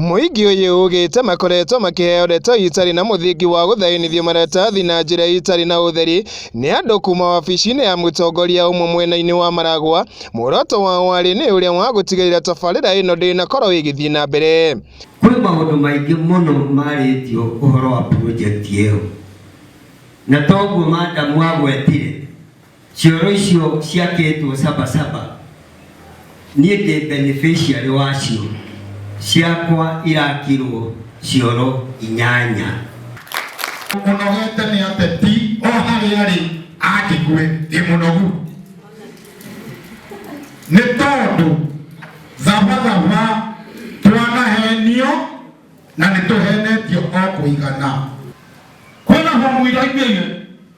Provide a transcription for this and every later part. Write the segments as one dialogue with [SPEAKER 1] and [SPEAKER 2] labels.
[SPEAKER 1] Mũingĩ ũyũ ũgĩte makoretwo makĩheo ndeto itarĩ na mũthingi wa gũthainithio maratathi na njĩra itarĩ na ũtheri nĩ andũ kuma wabici-inĩ ya mũtongoria ũmwe mwena-inĩ wa Maragwa. Muoroto wao warĩ nĩ ũrĩa wa gũtigĩrĩra tabarĩra ĩno ndĩnakorwo ĩgĩthiĩ na mbere. Kwĩ maũndũ maingĩ mũno marĩtio ũhoro wa project ĩyo, na toguo madamu agwetire Cioro icio ciakĩtwo Saba Saba, niĩ ndĩ beneficiary wacio, ciakwa irakirwo cioro inyanya. Ũnogete nĩ ateti o harĩa arĩ angĩkue ĩ mũnogu nĩ tondũ thabathaba twanahenio na nĩ tũhenetio o kũigana kwĩna homũ iraingĩire.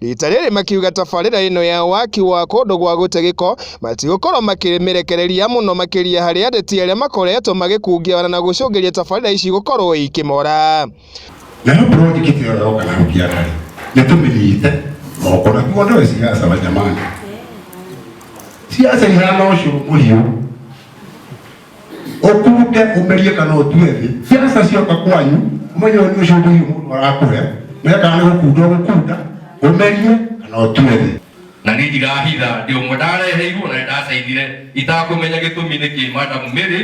[SPEAKER 1] Rita rĩrĩ makiuga tabarĩra ĩno ya waki wa kũndũ gwa gũte gĩko matigũkorwo makĩmĩrekereria mũno makĩria harĩ ateti arĩa makoretwo magĩkungia wana na gũcũngĩria tabarĩra ici gũkorwo ikĩmora. Nayo project ĩyo yoka na hũkia harĩ nĩ tũmĩnyite moko na kuo ndoĩ siasa wa jamani, siasa ihana ũcũrũ mũhiũ ũkuruke ũmerie kana ũtue thĩ ciaca cioka kwanyu ũmenye ũyũ nĩ ũcũmbĩirio mũndũ arakũhe mekaga nĩ gũkunda ũgũkunda ũmerie kana ũtue thĩ na nä ndirahitha ndä å mwe ndareheirwo na nä ndacainire itakåmenya gä tå mi nä kä madamu mä rä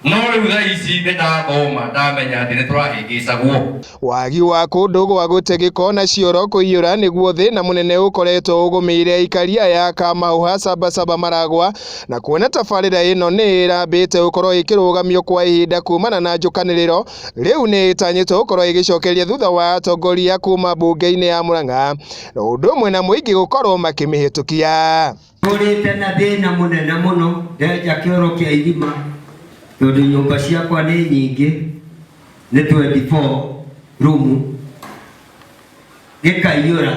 [SPEAKER 1] no rä u thaa ici nä ndathoma ndamenya atä nä tå rahä ngä cagwo Wagi wa kũndũ gwa gũte gĩko na cioro kũiyũra nĩguo thĩna mũnene ũkoretwo ũgũmĩire aikari aya a Kamahũha Sabasaba Maragwa na kuona tabarĩra ĩno nĩ ĩrambĩte gũkorwo ĩkĩrũgamio kwa ihinda kumana na njũkanĩrĩro, rĩu nĩ ĩtanyĩtwo gũkorwo ĩgĩcokeria thutha wa atongoria kuma mbunge-inĩ ya Murang'a na ũndũ ũmwe na mũingĩ gũkorwo makĩmĩhĩtũkia. Tũrĩte na thĩna mũnene mũno, ndenja kĩoro kĩa irima tondũ nyũmba ciakwa nĩ nyingĩ, nĩ 24 room, gĩkaiyũra,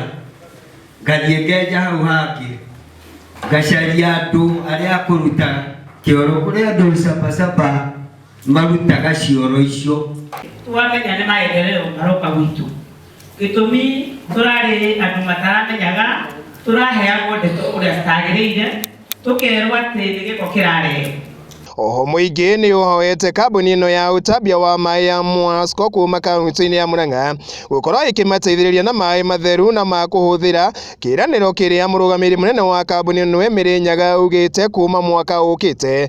[SPEAKER 1] ngathiĩ ngenja hau hangĩ, ngacaria andũ arĩa a kũruta kĩoro, kũrĩ andũ caba caba marutaga cioro icio. Twamenya nĩ maendereo maroka gwitũ. Gĩtũmi tũrarĩ andũ mataramenyaga, tũraheagwo ndeto ũrĩa citagĩrĩire, tũkerwo atĩ nĩ gĩko kĩrarehe. Oho mũingĩ nĩũhoete kambuni ĩno ya ũtambia wa maĩ ya Mwasco kuma kaunti-inĩ ya Murang'a gũkorwo ĩkĩmateithĩrĩria na maĩ matheru na ma kũhũthĩra, kĩĩranĩro kĩrĩa mũrũgamĩrĩri mũnene wa kambuni ĩno Emily Nyaga augĩte kuma mwaka ũkĩte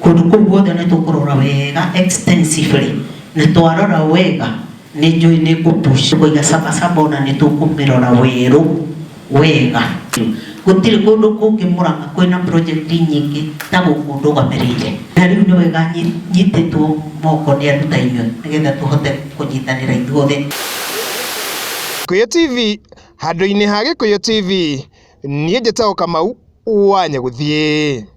[SPEAKER 1] Kũndũ kũu guothe nĩ tũkũrora wega extensively. Na twarora wega nĩ njũĩ nĩ ngũ push kũiga Saba Saba ona nĩ tũkũmĩrora werũ wega. Gũtirĩ kũndũ kũngĩ Mũrang'a kwĩna project nyingĩ ta gũkũ ndũgamĩrĩire. Na rĩu nĩ wega nyitĩtwo moko nĩ andũ ta inyuĩ nĩ getha tũhote kũnyitanĩra ithuothe. Gĩkũyũ TV handũ-inĩ ha Gĩkũyũ TV, niĩ njĩtagwo Kamau wa Nyagũthiĩ.